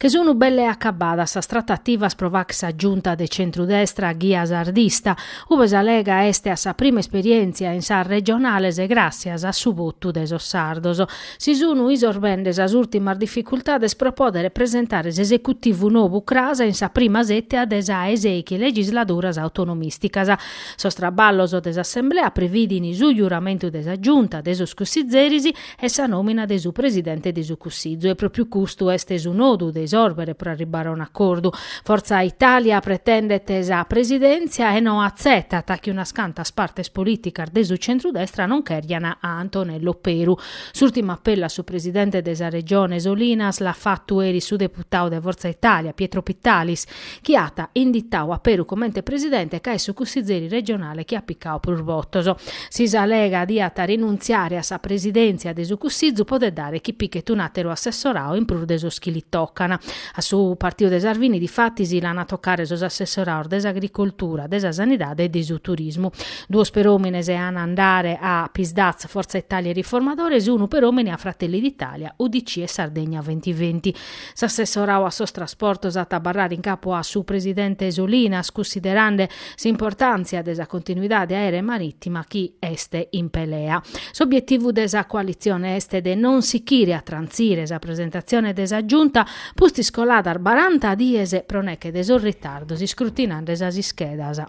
che sun belle acabadas sas tratativas pro fagher sa giunta de centru-destra a ghia sardista, ue sa Lega est a sa prima esperièntzia in sas regionales gràssias a su votu de sos sardos, si sunu isorbende sas ùrtimas dificultades pro pòdere presentare s'esecutivu nou cras in sa prima sètia de sa 'e sèchi legisladuras autonomìsticas. Sos traballos de s'assemblea previdin su giuramentu de sa giunta e de sos cussitzeris e sa nòmina de su presidente de su Cussizu e pròpiu custu est su nodu de isòrbere pro arribbare a un'acordu. Fortza Itàlia pretendet sa presidèntzia e no atzetat chi unas cantas partes polìticas de su centrudestra non chèrgian a Antonello Peru. S'ùrtimu apellu a su presidente de sa Regione Solinas l'at fatu eris su deputadu de Fortza Itàlia Pietro Pittalis, chi at inditau a Peru comente presidente ca est su cussizeri regionale chi at picau prus votos. Si sa Lega diat rinuntziare a sa presidèntzia de su cussizu podet dare chi pichet un'àteru assessorau in prus de sos chi li tocan. A su Partiu de Salvini difatis l'an a tocare sos assessoraus de s'Agricoltura, de sa Sanidade e de su Turismu. Duos per òmine an a andare a Psd'Az, Forza Italia e Riformadores, e unu per òmine a Fratelli d'Italia, UDC e Sardegna Ventiventi. S'assessorau a sos trasportos at a abarrare in capu a su presidente Solinas, cussiderande s'importàntzia de sa continuidade aèrea e marìtima chi est in pelea. S'obietivu de sa coalitzione est de non sichire a trantzire sa presentatzione de sa Giunta pustis coladas baranta dies pro neche de sos ritardos iscrutinande sas ischedas.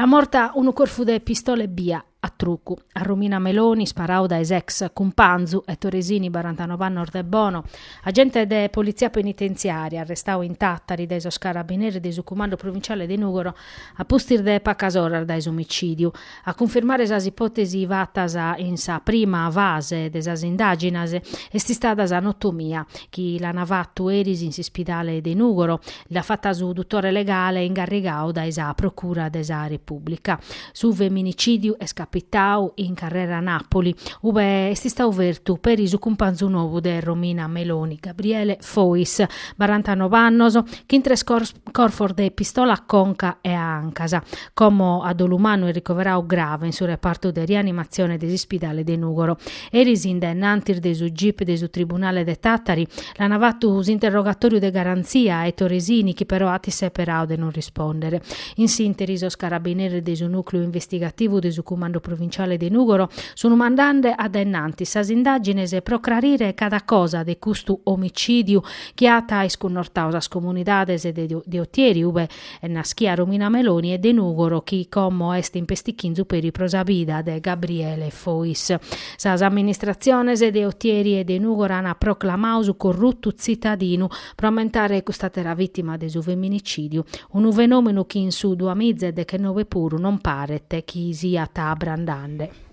L'at morta unu corfu de pistola ebbia, a trucu, a Romina Meloni sparau dae s'ex cumpanzu Ettore Sini barantanobe annos de Bono, agente de politzia penitenziària arrestau in Tàtari dae sos carabineres de su cumandu provinciale de Nùgoro a pustis de pacas oras dae s'omicìdiu. A cunfirmare sas ipòtesis fatas in sa prima fase de sas indàginas est istada sa notomia chi l'an fatu, eris in s'ispidale de Nùgoro, l'at fata su dutore legale ingarrigau dae sa procura de sa Repùblica. Su feminicìdiu est capitau in Carrera Nàpoli, ue est istau fertu peri su cumpanzu nou de Romina Meloni, Gabriele Fois, barantanobe annos, chin tres corfos de pistola a conca e a ancas. Como a dolu mannu est ricoverau grave in su repartu de rianimatzione de s'ispidale de Nùgoro. Eris in daennantis de su gip de su tribunale de Tàtari l'an fatu s'interrogatòriu de garantzia a Ettore Sini chi però at isseperau de non rispòndere. In s'ìnteri sos carabineres de su nùcleu investigativu de su Cumandu Provinciale de Nùgoro sun mandande a daennantis sas indàgines pro crarire cada cosa de custu omicìdiu chi at iscunnortau sas comunidades de Otieri ue ube naschia Romina Meloni e de Nùgoro chi como est in pestichinzu peri pro sa bida de Gabriele Fois. Sas amministratziones de Otieri e de Nùgoro ant proclamadu su corrutu tzitadinu pro ammentare cust'àtera vìtima de su feminicìdiu, unu fenòmenu chi in su duamiza e dechenobe puru non paret chi siat abrandende.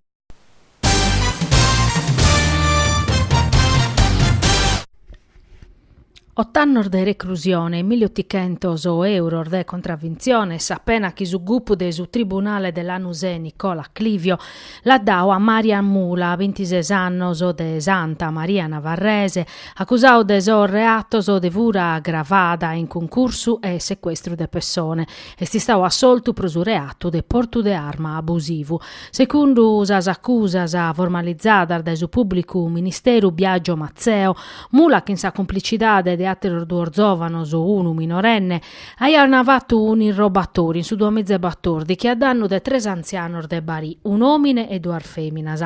Ott'annos de reclusione e milli otichentos euros de contraventzione sa pena chi su gupu de su tribunale de Lanusè Nicola Clivio at dadu a Marian Mula, bintises annos, de Santa Maria Navarrese, acusadu de sos reatos de fura agravada in cuncursu e secuestru de pessone, est istadu assoltu pro su reatu de portu de arma abusivu. Segundu sas acusas formalizadas dae su pùblicu ministeru Biagio Mazzeo, Mula chin sa cumplicidade de àteros duos zòvanos, unu minorenne, aiant fatu un'irrobatòriu in su duamiza e batòrdighi a dannu de tres antzianos de Barì, un'òmine e duas fèminas.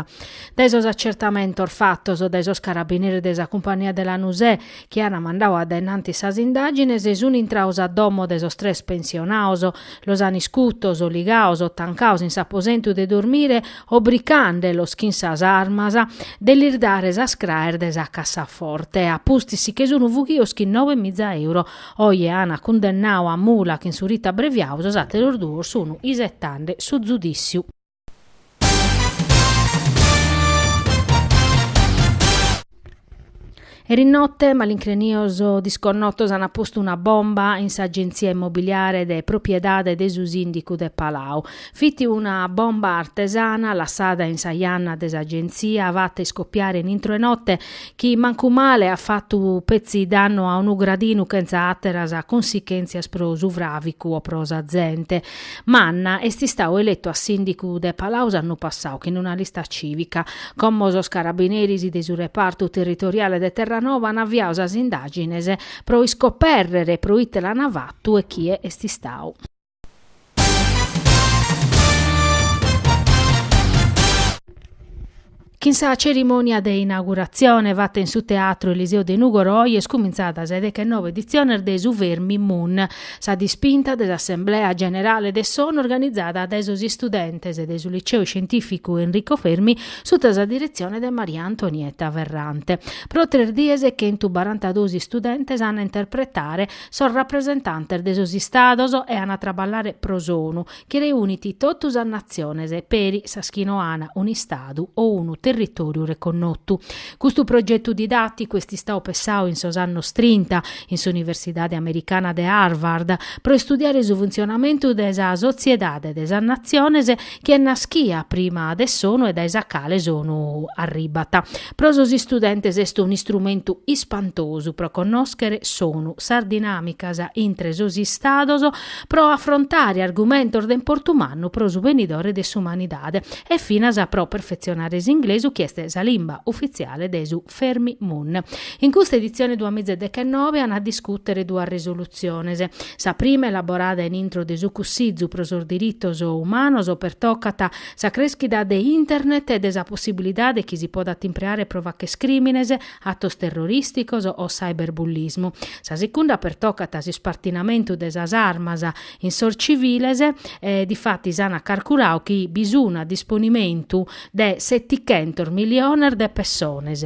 Dae sos acertamentos fatos dae sos carabineris de sa cumpania de Lanusè chi an mandadu a dae in antis sas indàgines, sunt intrados a domo de sos tres pensionados, Los an iscutos, ligados, tancados in s'aposentu de dormire, obricande los chin sas armas, de lis dare sas craes de sa cassaforte, a pustis si che sun fughidos chin noe miza euro. Oje an cundennadu a Mula chin su ritu abreviadu, sos àteros duos sun isetande su zudissiu. Erinotte malincrenios disconnotos ant postu una bomba in s'agentzia immobiliare de propriedade de su sìndicu de Palau. Fit una bomba artesana lassada in sa janna de s'agentzia fatta iscopiare in intro 'e note chi mancu male at fatu petzi dannu a unu gradinu chentza àteras cunsichèntzias pro su fràvicu o pro sa zente. Manna est istadu eletu a sìndicu de Palau s'annu passau chin una lista cìvica. Como sos carabineris de su repartu territoriale de Terranova an aviadu sas indàgines pro iscopèrrere pro ite l'an fatu e chie est istadu. Chin sa cerimònia de inauguratzione fata in su Teatru Eliseo de Nùgoro oi est cumintzada sa de deghenoe editziones de su Fermi Mun, sa dispinta de s'assemblea generale de s'ONU organizada dae sos istudentes de su Liceu Scientìficu Enrico Fermi suta sa diretzione de Maria Antonietta Ferrante. Pro tres dies chentu barantaduos istudentes an a interpretare sos rapresentantes de sos Istados e an a traballare pro s'ONU, chi reunit totu sas natziones peri sas chi no an un'Istadu o unu territòriu reconnotu. Custu progetu didàticu est istadu pessadu in sos annos trinta in s'Universidade Americana de Harvard pro istudiare su funtzionamentu de sa sotziedade de sas natziones chi est naschia prima de s'ONU e dae sa cale s'ONU arribat. Pro sos istudentes est un'istrumentu ispantosu pro connòschere s'ONU, sas dinàmicas intre sos Istados, pro afrontare argumentos de importu mannu pro su benidore de s'umanidade e finas pro perfetzionare s'inglesu chi est sa limba ufitziale de su Fermi Mun. In custa editzione duamiza e dechenove an a discùtere duas resolutziones. Sa prima, elaborada in intro de su Cussizu pro sos diritos umanos, pertocat sa crèschida de Internet e de sa possibilidade chi si podat impreare pro fàchere crìmines atos terrorìsticos o cyberbullismu. Sa secunda pertocat s'ispartinamentu de sas armas in sos civiles difatis ant carculadu chi bi sun a disponimentu de setichentos miliones de pessones.